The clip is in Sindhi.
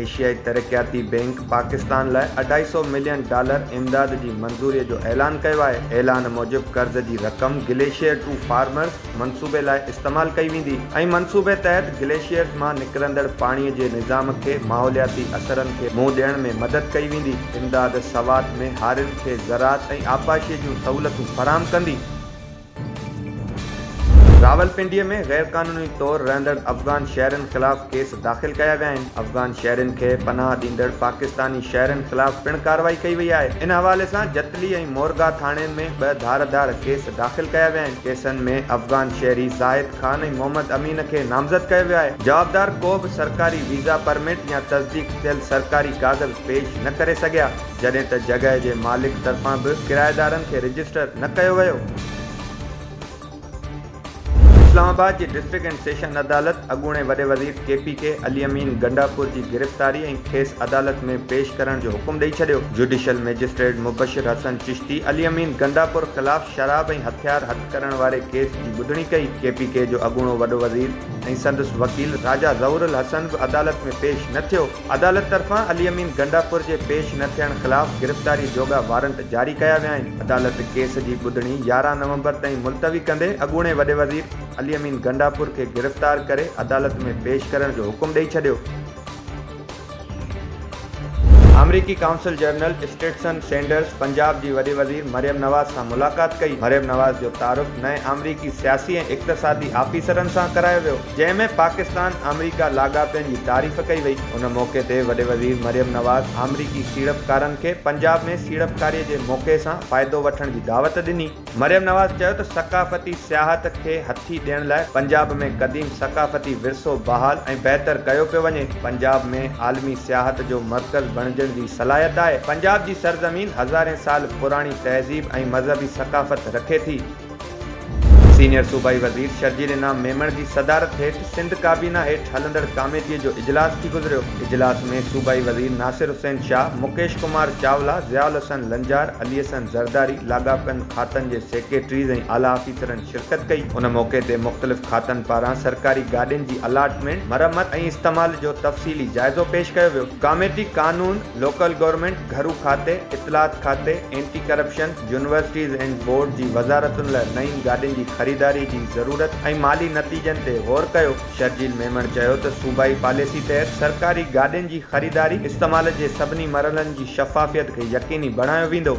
ايشيائي ترقياتي بئنڪ پاڪستان لاء اڍائي سؤ ملين ڊالر امداد جي منظوري جو اعلان ڪيو آهي، اعلان موجب قرض جي رقم گليشيئر ٽو فارمرز منصوبي لاء استعمال ڪئي ويندي ۽ منصوبي تحت گليشيئرز مان نڪرندڙ پاڻي جي نظام کي ماحولياتي اثرن کي منهن ڏيڻ ۾ مدد ڪئي ويندي. امداد سوات ۾ هارين کي زراعت ۽ آبپاشي جون سهولتون فراهم ڪندي. راولپنڊي ۾ غير قانوني طور رهندڙ افغان شهرين خلاف ڪيس داخل ڪيا ويا آهن، افغان شهرين کي پناهه ڏيندڙ پاڪستاني شهرين خلاف پڻ ڪارروائي ڪئي وئي آهي، ان حوالي سان جتلي ۽ مورگاهه ٿاڻين ۾ ٻه ڌار ڌار ڪيس داخل ڪيا ويا آهن، ڪيسن ۾ افغان شهري زاهد خان ۽ محمد امين کي نامزد ڪيو ويو آهي، جوابدار ڪو به سرڪاري ويزا پرمٽ يا تصديق ٿيل سرڪاري ڪاغذ پيش نه ڪري سگهيا. جڏهن ته جڳهه جي مالڪ طرفان به ڪرائيدارن کي رجسٽر نه ڪيو ويو. اسلام آباد جي ڊسٽرڪٽ اينڊ سيشن عدالت اڳوڻي وڏي وزير K P K Ali Amin Gandapur جي گرفتاري ۽ کيس عدالت ۾ پيش ڪرڻ جو حڪم ڏئي ڇڏيو. جوڊيشل مئجسٽريٽ مبشر حسن چشتي علي امين گنڊاپور خلاف شراب ۽ هٿيار هٿ ڪرڻ واري ڪيس جي ٻڌڻي ڪئي. ڪي پي ڪي جو اڳوڻو وڏو وزير ۽ سندس وڪيل راجا ظهور الحسن به عدالت ۾ پيش نه ٿيو. عدالت طرفان علي امين گنڊاپور جي پيش نه ٿيڻ خلاف گرفتاري جوڳا وارنٽ جاري ڪيا ويا آهن، عدالت ڪيس جي ٻڌڻي يارهن نومبر تائين ملتوي ڪندي اڳوڻي وڏي وزير علي امين گنڊاپور کي گرفتار ڪري عدالت ۾ پيش ڪرڻ جو حڪم ڏئي ڇڏيو. آمريڪي قونصل جنرل اسٽيٽسن سينڊرز پنجاب جي وڏي وزير مريم نواز سان ملاقات ڪئي، مريم نواز جو تعارف نئين آمريڪي سياسي ۽ اقتصادي آفيسرن سان ڪرايو ويو. جنهن ۾ پاڪستان آمريڪا لاڳاپن جي تعريف ڪئي وئي ان موقعي تي وڏي وزير مريم نواز آمريڪي سيڙپڪارن کي پنجاب ۾ سيڙپڪاري جي موقعي سان فائدو وٺڻ جي دعوت ڏني مريم نواز چيو ته ثقافتي سياحت کي هٿي ڏيڻ لاء پنجاب ۾ قديم ثقافتي ورثو بحال ۽ بهتر ڪيو پيو وڃي پنجاب ۾ عالمي سياحت جو مرڪز بڻجڻ جي صلاحيت آهي پنجاب جي سرزمين هزارين سال پراڻي تهذيب ۽ مذهبي ثقافت رکي ٿي. سينيئر صوبائي وزير شرجيل انعام ميمڻ جي صدارت هيٺ سنڌ ڪابينا هيٺ هلندڙ ڪاميٽي جو اجلاس ٿي گذريو، اجلاس ۾ صوبائي وزير ناصر حسين شاهه، مڪيش ڪمار چاولا، ضياء الحسن لنجار، علي حسن زرداري، لاڳاپيل کاتن جي سيڪريٽريز ۽ اعليٰ آفيسرن شرڪت ڪئي، ان موقعي تي مختلف کاتن پاران سرڪاري گاڏين جي الاٽمينٽ، مرمت ۽ استعمال جو تفصيلي جائزو پيش ڪيو ويو، ڪاميٽي قانون. لوڪل گورنمينٽ، گهرو کاتي، اطلاعات کاتي، anti corruption, universities and board جي وزارتن لاء نئين گاڏين جي خريداري جي ضرورت ۽ مالي نتيجن تي غور ڪيو. شرجيل ميمڻ چيو ته صوبائي پاليسي تحت سرڪاري گاڏين جي خريداري استعمال جي سڀني مرحلن جي شفافيت کي يقيني بڻايو ويندو.